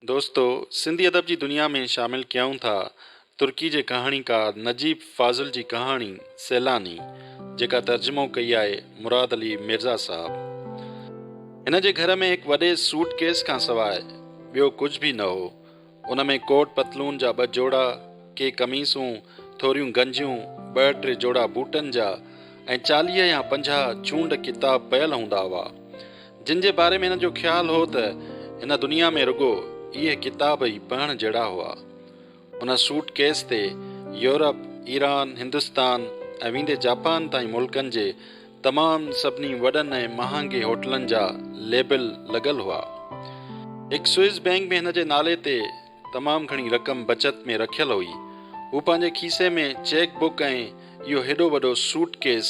دوستو! سنڌي ادب جي دنيا ۾ شامل ڪيائون ٿا ترڪي جي ڪهاڻيڪار نجيب فاضل جي ڪهاڻي سيلاني جيڪا ترجمو ڪئي آهي مراد علي مرزا صاحب. هن جي گهر ۾ هڪ وڏي سوٽ ڪيس کان سواء ٻيو ڪجهه به نه هو. ان ۾ ڪوٽ پتلون جا ٻه جوڙا، ڪي قميصون، ٿوريون گنجيون، ٻه ٽي جوڙا بوٽن جا ۽ چاليهه يا پنجاهه چونڊ ڪتاب پيل هوندا هئا. جن جي باري ۾ هنن جو خيال هو ته هن دنيا ۾ رڳو اهي ڪتاب ئي پڙهڻ جهڙا هئا. ان سوٽ ڪيس تي يورپ، ايران، هندستان ۽ ويندي جاپان تائين ملڪن جي تمام سڀني وڏن ۽ مهانگي هوٽلن جا ليبل لڳل هئا. هڪ سوئس بينڪ ۾ هن جي نالي تي تمام گهڻي رقم بچت ۾ رکيل هئي. هو پنهنجي کيسي ۾ چيڪ بڪ ۽ اهو هيڏو وڏو سوٽ ڪيس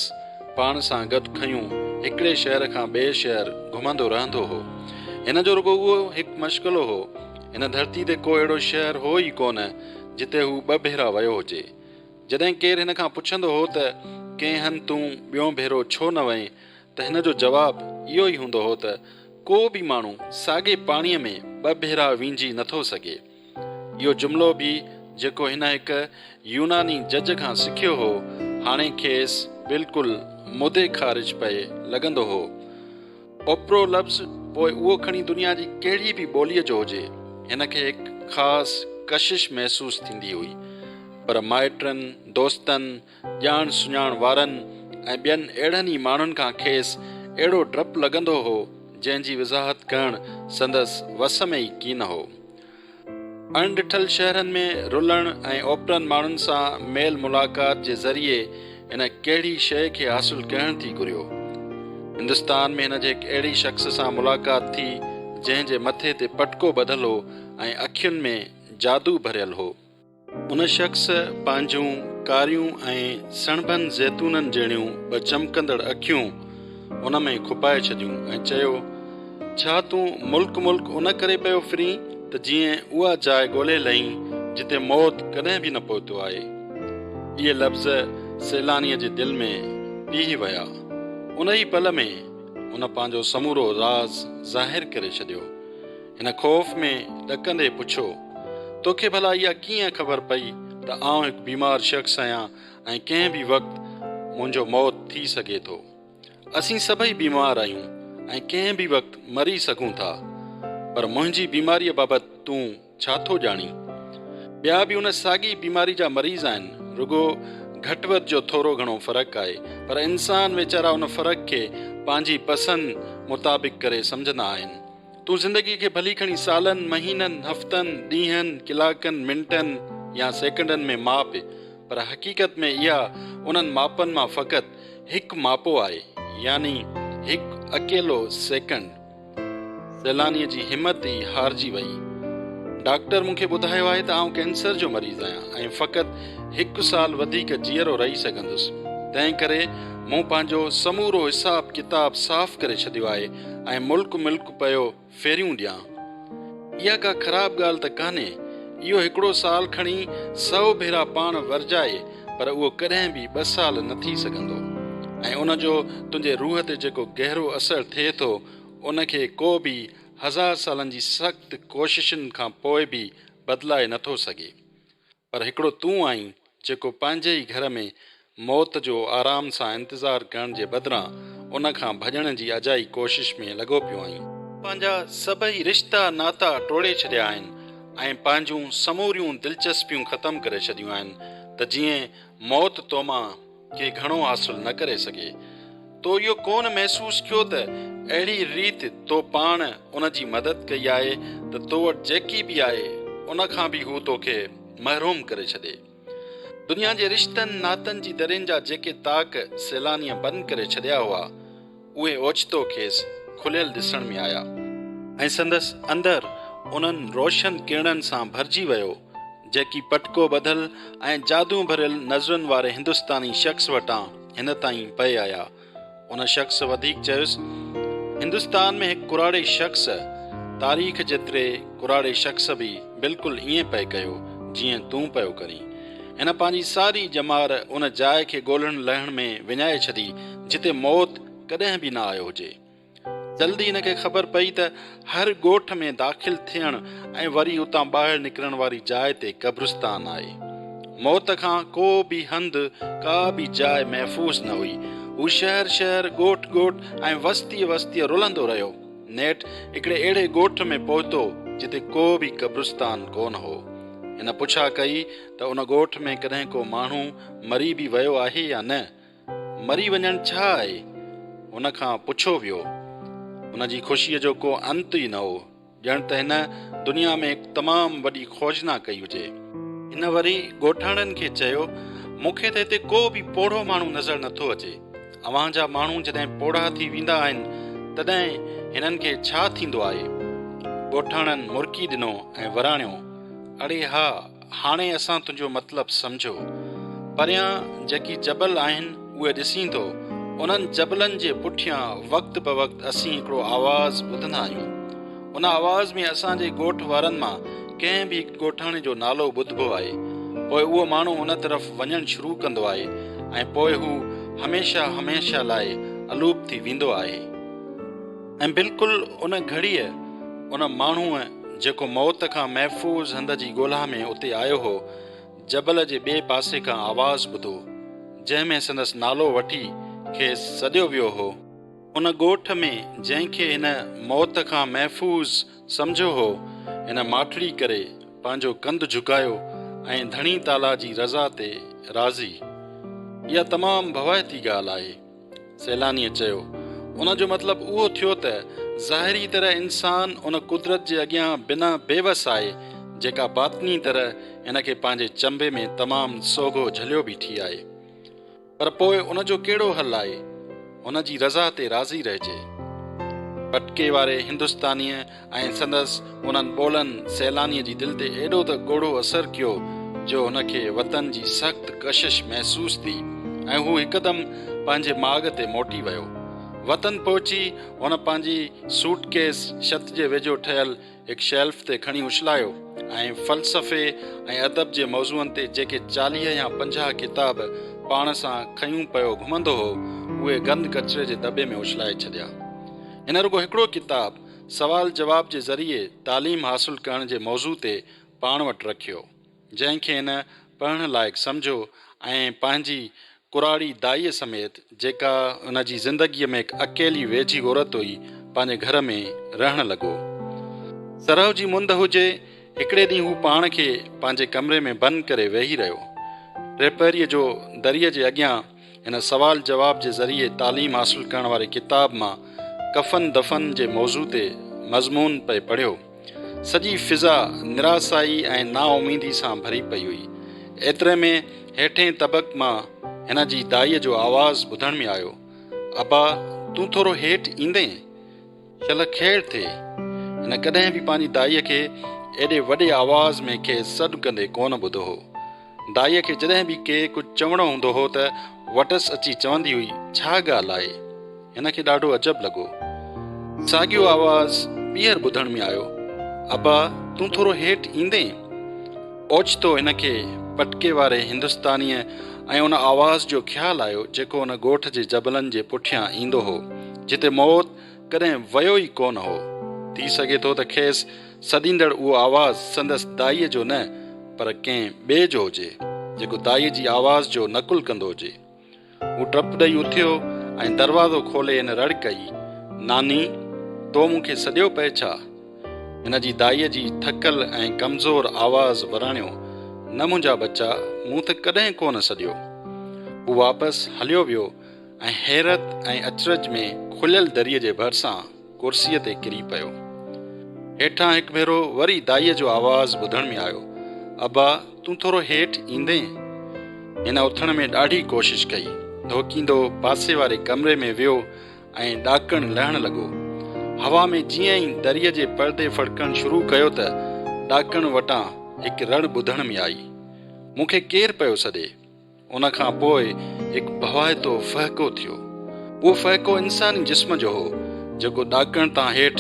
پاڻ سان گڏ کنيون هڪڙي شهر کان ٻئي شهر گهمندو رهندو هو. هن جو رڳو اهو هڪ مشغلو هو. هن ڌرتي تي ڪو اهڙو شهر هو ئي ڪونه جتي هو ٻه ڀيرا ويو هجي. جڏهن ڪير هن کان پڇندو هو ته ڪنهن هنڌ تون ٻيون ڀيرو ڇو نه وئين ته هن جو جواب اهو ئي هوندو هو ته ڪو به ماڻهو ساڳي پاڻيء ۾ ٻه ڀيرا وينجهي نه ٿو سگهي. اهو جملو به جيڪو هن هڪ يوناني جج کان سکيو هو، هاڻي کيس بلڪل مدي خارج پئي لڳندو هو. اوپرو لفظ پوء اهو کڻي دنيا جي ڪهڙي به ٻوليء جو هجي، هن کي هڪ خاص ڪشش محسوس ٿيندي هئي. پر مائٽن، دوستن، ڄاڻ سڃاڻ وارن ۽ ٻين اهڙن ئي ماڻهن کان کيس اهڙو ڊپ لڳندو هو، جنهن جي وضاحت ڪرڻ سندس وس ۾ ئي ڪين هو. اڻ ڏٺل شهرن ۾ رلڻ ۽ اوپرن ماڻهن سان ميل ملاقات جي ذريعي هن ڪهڙي شيء کي حاصل ڪهڻ ٿي گهريو. هندستان ۾ هن جي هڪ اهڙي شخص سان ملاقات ٿي، جنهن جي مٿي تي پٽڪو ٻڌل هو ۽ اکين ۾ جادو ڀريل هو. ان شخص پنهنجون ڪاريون ۽ سڻڀن زيتونن جهڙيون ٻه چمڪندڙ اکيون هن ۾ کپائي ڇڏيون ۽ چيو، ڇا تون ملڪ ملڪ ان ڪري پيو ڦرين ته جيئن اها جاء ڳولهي لهين جتي موت ڪڏهن به نه پهتو آهي. اهي لفظ سيلانيء جي دل ۾ پيهي ويا. ان ئي پل ۾ هن پنهنجو سمورو راز ظاهر ڪري ڇڏيو. هن خوف ۾ ڏڪندي پڇيو، توکي ڀلا اها ڪيئن خبر پئي ته آئون هڪ بيمار شخص آهيان ۽ ڪنهن به وقت منهنجو موت ٿي سگهي ٿو. اسين سڀئي بيمار آهيون ۽ ڪنهن به وقت مري سگهون ٿا. پر منهنجي بيماريء بابت تون ڇا ٿو ڄاڻين؟ ٻيا به ان ساڳي بيماري جا مريض آهن، رڳو گهٽ وڌ جو ٿورو گهڻو فرق آهي، پر انسان ويچارا ان فرق کي پنهنجي پسند مطابق ڪري سمجهندا آهن. تون زندگيء کي ڀلي کڻي سالن، مهينن، هفتن، ڏينهن، ڪلاڪن، منٽن يا سيڪنڊن ۾ ماپ، پر حقيقت ۾ اها انهن ماپن مان فقط هڪ ماپو آهي، يعني هڪ اڪيلو سيڪنڊ. سيلانيء جي همت ئي هارجي ويئي. ڊاڪٽر مون کي ٻڌايو آهي ته آئون ڪينسر جو مريض آهيان ۽ فقط هڪ سال وڌيڪ جيئرو رهي سگهندس، تنهنڪري مون پنهنجو سمورو حساب ڪتاب صاف ڪري ڇڏيو آهي، ۽ ملڪ ملڪ پيو ڦيريون ڏيان. اها ڪا خراب ڳالهه ته ڪانهي. اهو هڪڙو سال کڻي سئو ڀيرا پاڻ ورجائي پر اهو ڪڏهن به ٻه سال نه ٿي سگهندو ۽ ان جو تنهنجي روح تي جيڪو گهرو اثر ٿئي ٿو ان کي ڪو به هزار سالن جي سخت ڪوششن کان پوء به بدلائي نه ٿو سگهي. پر هڪڙو تون آهين جيڪو پنهنجي ئي گهر ۾ موت جو آرام سان انتظار ڪرڻ جي بدران ان کان ڀڄڻ جي اجائي ڪوشش ۾ لڳو پيو آهين. پنهنجا سڀئي رشتا ناتا ٽوڙي ڇڏيا آهن ۽ پنهنجون سموريون دلچسپيون ختم ڪري ڇڏيون آهن ته جيئن موت تومان کي گهڻو حاصل نه ڪري سگهي. تو اهو ڪونه محسوس ڪيو ته اهڙي ريت تو پاڻ ان جي مدد ڪئي آهي ته تو وٽ جيڪي به آهي ان کان به هو توکي محروم ڪري ڇڏي. دنيا جي رشتن ناتن جي درين جا جيڪي تاڪ سيلانيء بند ڪري ڇڏيا هئا، اهي اوچتو کيس کليل ڏسڻ ۾ آيا ۽ سندس اندر انهن روشن ڪرڻن سان ڀرجي ويو، جيڪي پٽڪو ٻڌل ۽ جادو ڀريل نظرن واري هندستاني شخص وٽان هن تائين پئي آيا. ان شخص وڌيڪ چيس، هندستان ۾ هڪ ڪراڙي شخص، تاريخ جيتري ڪراڙي شخص به بلڪل ائين پئي ڪيو، جيئن تون پيو ڪرين. هن پنهنجي ساري ڄمار ان جاء کي ڳولڻ لهڻ ۾ وڃائي ڇڏي جتي موت ڪڏهن به نه آيو هجي. جلد ئي هن کي خبر پئي ته هر ڳوٺ ۾ داخل ٿيڻ ۽ وري اتان ٻاهر نڪرڻ واري جاء تي قبرستان آهي. موت کان ڪو به هنڌ، ڪا به جاء محفوظ نه هئي. هو شهر شهر، ڳوٺ ڳوٺ ۽ وستيء وستيء رلندو رهيو. نيٺ هڪڙي اهڙي ڳوٺ ۾ پهتو جتي ڪو به قبرستان ڪونه هو. هن پڇا ڪئي ته ان ڳوٺ ۾ ڪڏهن ڪو ماڻهو مري به ويو آهي يا نه؟ مري وڃڻ ڇا آهي؟ هن کان پڇو ويو. هن جي خوشيء جو ڪو انت ئي نه هو، ڄڻ ته هن دنيا ۾ هڪ تمام وڏي خوجنا ڪئي هجي. هن وري ڳوٺاڻن کي چيو، مون کي ته هتي ڪو به پوڙهو ماڻهو نظر نٿو اچي. اوهان جا ماڻهو جڏهن پوڙها ٿي ويندا آهن، تڏهن هنن کي ڇا ٿيندو آهي؟ ڳوٺاڻن مرڪي ڏنو ۽ وراڻيو، اڙي ها، هاڻي اسان تنهنجو مطلب سمجهيو. پريان جيڪي جبل آهن، اهي ڏسين ٿو. انهن جبلن جي پٺيان وقت بوقت اسين هڪڙو آواز ٻڌندا آهيون. ان آواز ۾ اسان جي ڳوٺ وارن مان ڪنهن به هڪ ڳوٺاڻي جو نالو ٻڌبو آهي، پوء اهو ماڻهو ان طرف وڃڻ شروع ڪندو آهي ۽ پوء هو هميشه هميشه لاء الوپ ٿي ويندو آهي ۽ بلڪل ان گهڙيء ان ماڻهوء جيڪو موت کان محفوظ هنڌ جي ڳولها ۾ اتي آيو هو، جبل جي ٻئي پاسي کان آواز ٻڌو، جنهن ۾ سندس نالو وٺي کيس سڏيو ويو هو. ان ڳوٺ ۾ جنهن کي هن موت کان محفوظ سمجهيو هو، هن ماٺڙي ڪري پنهنجو ڪنڌ جهڪايو ۽ ڌڻي تعاليٰ جي رضا تي راضي. اها تمام ڀوائتي ڳالهه آهي. سيلانيء چيو. ان جو مطلب اهو ٿيو ته ظاهري طرح انسان ان قدرت جي اڳيان بنا بيوس آهي، جيڪا باطني طرح هن کي پنهنجي چنبي ۾ تمام سوگهو جهليو بيٺي آهي. پر پوء ان جو ڪهڙو حل آهي؟ هن جي رضا تي راضي رهجي. پٽڪي واري هندستانيء ۽ سندس انهن ٻولن سيلانيء جي دل تي ايڏو ته ڳوڙهو اثر ڪيو جو هن کي وطن جي سخت ڪشش محسوس ٿي ۽ هو هڪدم پنهنجي ماڳ تي موٽي ويو. وطن پهچي هن پنهنجي سوٽ ڪيس ڇت جي ويجهو ٺهيل هڪ شيلف تي کڻي اڇلايو ۽ فلسفي ۽ ادب جي موضوعن تي جيڪي چاليهه يا پنجاهه ڪتاب پاڻ سان کنيون پيو گهمندو هو، اهي گند ڪچري جي دٻي ۾ اڇلائي ڇڏيا. هن رڳو هڪڙو ڪتاب سوال جواب جي ذريعي تعليم حاصل ڪرڻ جي موضوع تي پاڻ وٽ رکيو. جنهن کي نه پڙهڻ لائق سمجهو ۽ پنهنجي ڪراڙي دائيء سميت، جيڪا هن جي زندگيء ۾ هڪ اڪيلي ويجهي عورت هئي، پنهنجي گهر ۾ رهڻ لڳو. سرهو جي مند هجي، هڪڙي ڏينهن هو پاڻ کي پنهنجي ڪمري ۾ بند ڪري ويهي رهيو. ٽيپهريء جو دريء جي اڳيان هن سوال جواب جي ذريعي تعليم حاصل ڪرڻ واري ڪتاب مان ڪفن دفن جي موضوع تي مضمون پئي پڙهيو. سڄي فضا نراسائي ۽ نااميدي سان ڀري پئي هئي. ايتري ۾ هيٺين طبق مان هن جي دائيء جو آواز ٻڌڻ ۾ آيو، ابا تون ٿورو هيٺ ايندين؟ شل کيڙ ٿئي. هن ڪڏهن به پنهنجي دائيء کي ايڏي وڏي آواز ۾ کيس سڏ ڪندي ڪونه ٻڌو هو. دائيء کي جڏهن به ڪي ڪجهه چوڻو هوندو هو ته وٽس اچي چوندي هئي، ڇا ڳالهه آهي؟ هن کي ڏاڍو عجب لڳو. ساڳيو آواز ٻيهر ٻڌڻ ۾ آيو، ابا تون ٿورو هيٺ ايندين؟ اوچتو هن کي پٽڪي واري هندستانيء ۽ ان آواز جو خيال آيو، جيڪو ان ڳوٺ جي جبلن جي پٺيان ايندو هو، جتي موت ڪڏهن ويو ئي ڪونه هو. ٿي سگهي ٿو ته کيس سڏيندڙ اهو آواز سندس دائيء جو نه پر ڪنهن ٻئي جو هجي، جيڪو دائيء جي آواز جو نقل ڪندو هجي. هو ڊپ ڏئي اٿيو ۽ دروازو کولي هن رڙ ڪئي، ناني! تو مون کي سڏيو پئي ڇا؟ هن جي دائيء جي ٿڪل ۽ ڪمزور آواز وراڻيو، نه منهنجا ٻچا، مون تھ ڪڏهن ڪونه سڏيو. هو واپس هليو ويو. ۽ حيرت ۽ اچرج ۾ کليل دريء جي ڀرسان ڪرسيء تي ڪري پيو. هيٺان هڪ ڀيرو وري دائيء جو آواز ٻڌڻ ۾ آيو، ابا، تون ٿورو هيٺ ايندين؟ هن اٿڻ ۾ ڏاڍي ڪوشش ڪئي. ڌوڪيندو پاسي واري ڪمري ۾ ويو ۽ ڏاڪڻ لهڻ لڳو. هوا ۾ جيئن ئي دريء جي پردي ڦڙڪڻ شروع ڪيو ته ڏاڪڻ وٽان هڪ رڙ ٻڌڻ ۾ آئي، مون کي ڪير پيو سڏي؟ ان کان پوء هڪ ڀوائتو ڦهڪو ٿيو. اهو ڦهڪو انساني جسم جو هو، جيڪو ڏاڪڻ تان هيٺ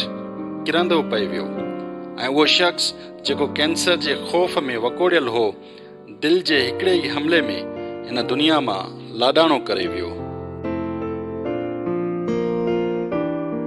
ڪرندو پئي ويو ۽ اهو شخص جيڪو ڪينسر جي خوف ۾ وڪوڙيل هو، دل جي هڪڙي ئي حملي ۾ هن دنيا مان لاڏاڻو ڪري ويو.